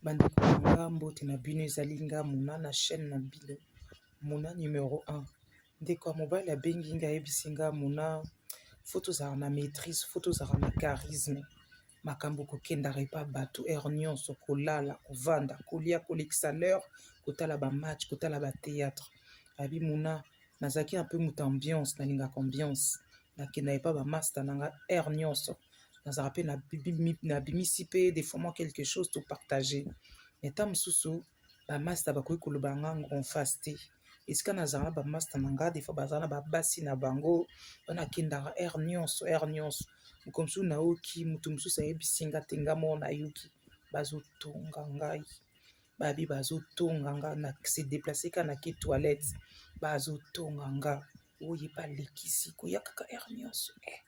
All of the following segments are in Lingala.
Bandeko na nga mbote na bino ezali nga mona na chaîne na bino mona numero 1 ndeko ya mobali abengi nga ayebisi nga mona fo tozala na maîtrise fo tozala na charisme makambo kokendaka epa bato heure nyonso kolala kovanda kolia kolekisa l'heure kotala bamatch kotala batheatre abi mona nazalaki na mpe moto ambiance nalingaka ambiance nakenda epa ba masta na nga heure nyonso nazalaka mpe nabimisi mpe des fois moi quelque chose to partager mais ntango mosusu bamasta bakoki koloba nga en face te esika nazala na bamasta na nga des fois bazala na babasi na bango wana akendaka heure nyonso heure nyonso moko mosusu nayoki moto mosusu ayebisi nga te nga moko nayoki bazotonga ngai babi bazotonga nga na se deplace ka na ki toilette bazotonga nga oye balekisi koya kaka heure nyonso eh.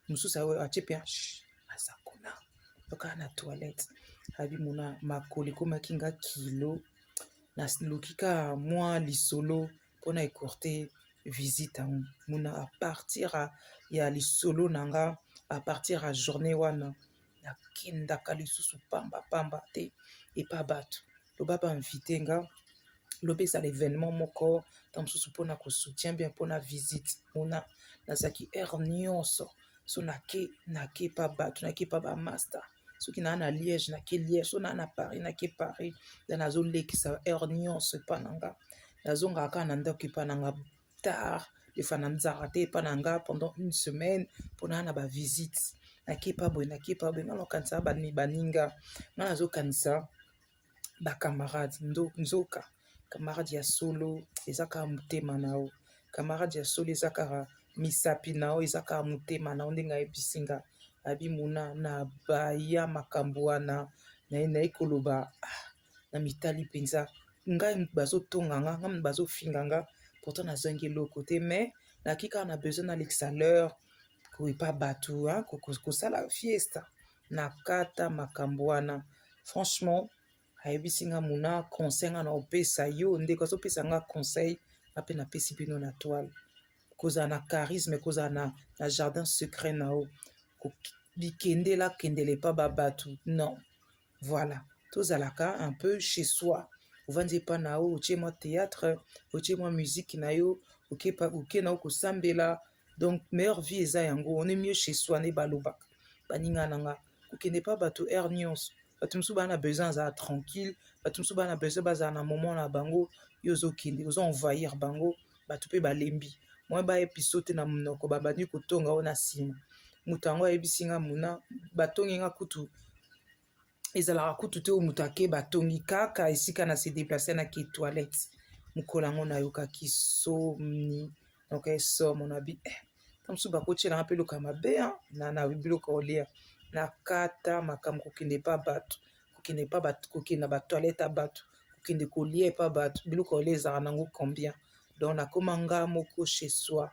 mosusu aoyo atie mpe aza kuna yokaa na toilette abi mona makolo ekomaki nga kilo naluki ka mwa lisolo mpona ecourte visite yango mona apartir ya lisolo na nga apartir ya journée wana nakendaka lisusu pamba pamba te epa bato loba ba invite nga loba ezala événement moko ntango mosusu mpona kosoutien bien mpona visite mona nazalaki heure nyonso so nake nake epa bato nake epa bamaster soki naa na liège nake liège so naa na paris nake paris nde nazolekisa heure nyonso epa na nga nazongaka kaka na ndako epa na nga tard efana nzaka te epa na nga pendant une semaine mpona na bavisite nakepa boye nakepa boye nga nakanisa baninga nga nazokanisa bacamarade nzoka camarade ya solo eza kaka motema na yo camarade ya solo eza kaka misapi na yo eza kaka motema na yo ndenge ayebisi nga abimona na baya makambo wana naye naye koloba ah, na mitali mpenza ngai moto bazotonga nga nga moto bazofinga nga pourtant nazangi eloko te mais naki kaka na besoin nalekisa l'heure koyepa bato kosala fiesta na kata makambo wana franchement ayebisi nga mona conseil nga na opesa yo ndeko azopesa nga conseil nga mpe napesi bino na toile kozala na charisme kozala na, na jardin secret na yo bikendela kendele epa ba bato non voilà tozalaka un peu chez soi ovandi epa na yo otie mwa théâtre otie mwa musique na yo oke na yo kosambela donc meilleure vie eza yango on est mieux chez soi nde balobaka baninga na nga kokende pa bato aire nyonso bato mosusu baa na besoin azala tranquille bato mosusu baa na besoin bazala na moment na bango yo ozokende ozo envahir bango bato mpe balembi mwa ba episode te na monoko babandi kotonga oyo na nsima moto yango ayebisi nga mona batongi nga kutu ezalaka kutu te oyo moto ake batongi kaka esika na se deplace na ke toilette mokolo yango nayokaki somni noka esomo na bi eh, na mosusu bakotyelanga mpe eloka mabe na na biloko olia na kata makambo kokende mpa bato kokende epa bato kokende na batoilette ya bato kokende kolia epa bato biloko ya kolia ezalaka nango combien donc nakoma nga moko chez soi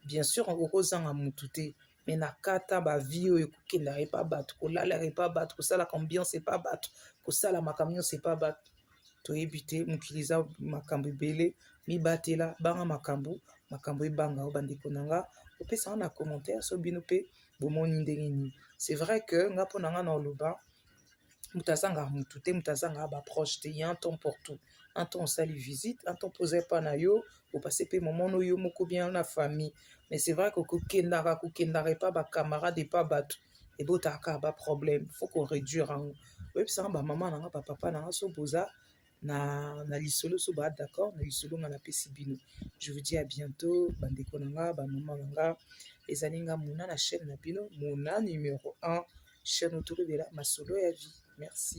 bien sûr okoki kozanga motu te me na kata bavie oyo kokendaka epa bato kolalaka epa bato kosalaka ambiance epa bato kosala makambo nyonso epa bato toyebi te mokili eza makambo ebele mibatela banga makambo makambo ebanga o bandeko na nga opesanga na commentaire so bino mpe bomoni ndenge nini c'est vrai que nga mpo na nga na oloba moto azanga mutu te moto azanga ba proche te ya un temps pour tout un temps osali visite un temps mpo oza epa na yo opase mpe moment no yo moko bien na famille mais c'est vrai que kokendaka kokendaka epa ba camarade epa bato ebotaka ba problème faut ko réduire yango oyebisanga ba mama na nga ba papa na nga so boza na, na lisolo so ba d'accord na lisolo nga napesi bino je vous dis à bientôt bandeko na nga bamama na nga ezali nga mona na chaîne na bino mona numero 1 chaîne otokolobela masolo ya vie merci